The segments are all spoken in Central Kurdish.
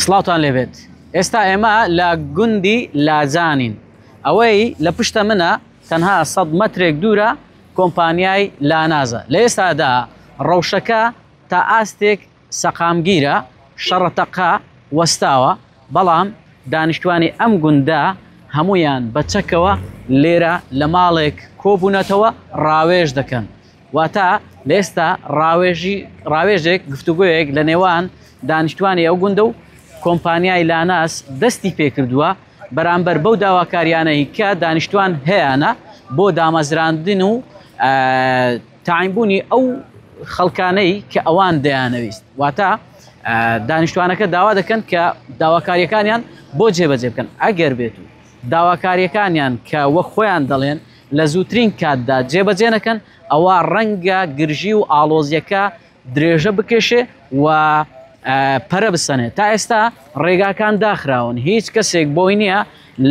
سڵاوتان لێبێت ئێستا ئێمە لە گوندی لاجانین ئەوەی لە پشتە منە تەنها سەد مەترێک دوورە کۆمپانیای لانازە لە ئێستادا ڕەوشەکە تا ئاستێک سەقامگیرە شەڕەتەقە وەستاوە بەڵام دانیشتوانی ئەم گوندە هەمویان بە چەکەوە لێرە لە ماڵێک کۆبوونەتەوە ڕاوێژ دەکەن واتە لە ئێستا ڕاوێژی ڕاوێژێک گفتوگوۆیەک لە نێوان دانیشتوانی ئەو گوندە و کۆمپانیای لاناس دەستی پێکردووە بەرامبەر بەو داواکاریانەی کە دانیشتوان هەیەە بۆ دامەزراندن و تاینبوونی ئەو خەڵکانەی کە ئەوان دەیانەویست واتە دانیشتوانەکە داوا دەکەن کە داواکاریەکانیان بۆ جێبەجێ بکەن ئەگەر بێت و داواکاریەکانیان کە وە خۆیان دەڵێن لە زووترین کاتدا جێبەجێ نەکەن، ئەوا ڕەنگە گرژی و ئاڵۆزییەکە درێژە بکێشێ و پەرە بسەنێ. تا ئێستا ڕێگاکان داخراون، هیچ کەسێک بۆی نییە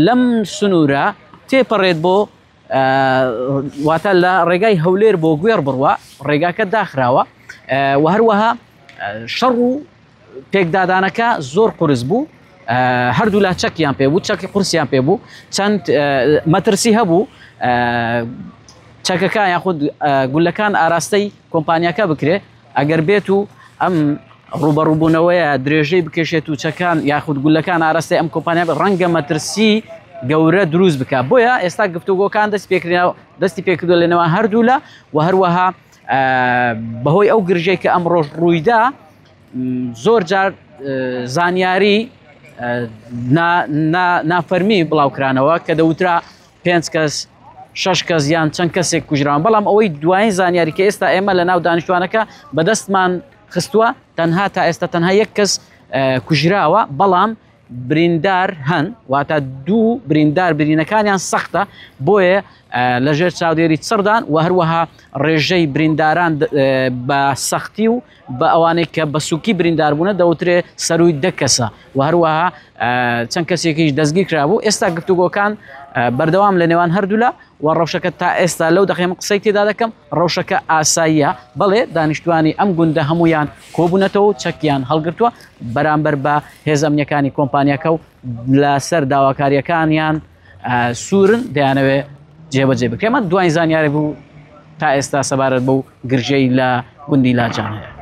لەم سنوورە تێپەڕێت بۆ واتە لە ڕێگای هەولێر بۆ گوێڕ بڕوا ڕێگاکە داخراوە و هەروەها شەڕ و پێکدادانەکە زۆر قورس بوو هەردوولا چەکیان پێ بوو چەکی قورسیان پێ بوو چەند مەترسی هەبوو چەکەکان یاخود گولەکان ئاراستەی کۆمپانیاکە بکرێت ئەگەر بێت و ئەم ڕوبەڕووبوونەوەیە درێژەی بکێشێت و چەکان یاخود گولەکان ئاراستەی ئەم کۆمپانیا ڕەنگە مەترسی گەورە دروست بکە بۆیە ئێستا گفتوگۆکان دەست پێکرا دەستی پێکردو لەنەوە هەردوو لە و هەروەها بەهۆی ئەو گرژەی کە ئەم ڕۆژ ڕوویدا زۆر جار زانیاری نافەرمی بڵاوکرانەوە کە دەوترا پێنج کەس شش کەس یان چەند کەسێک کوژران بەڵام ئەوەی دوایین زانیاری کە ئێستا ئێمە لە ناو دانیشتوانەکە بەدەستمان خستووە تەنها تا ئێستا تەنها یەک کەس کوژراوە بەڵام بریندار هەن واتە دوو بریندار برینەکانیان سەختە بۆیە لەژێر چاودێری چڕدان و هەروەها ڕێژەی برینداران بە سەختی و بە ئەوانەی کە بە سوکی برینداربوونە دەوترێ سەروی دە کەسە و هەروەها چەند کەسێکیش دەستگیر کرابوو ئێستا گفتوگۆکان بەردەوام لە نێوان هەردوولا و ڕەوشەکە تا ئێستا لەو دەخێم قسەی تێدا دەکەم ڕەوشەکە ئاساییە بەڵێ دانیشتوانی ئەم گوندە هەمویان کۆبوونەتەوە و چەکیان هەڵگرتووە بەرامبەر بە هێز ئەمنیەکانی کۆمپانیەکە و لەسەر داواکاریەکانیان سوورن دەیانەوێ جێبەجێ بکە من دوای زانیاری بوو تا ئێستا سەبارەت بەو گرژەی لە گوندی لاجان هەیە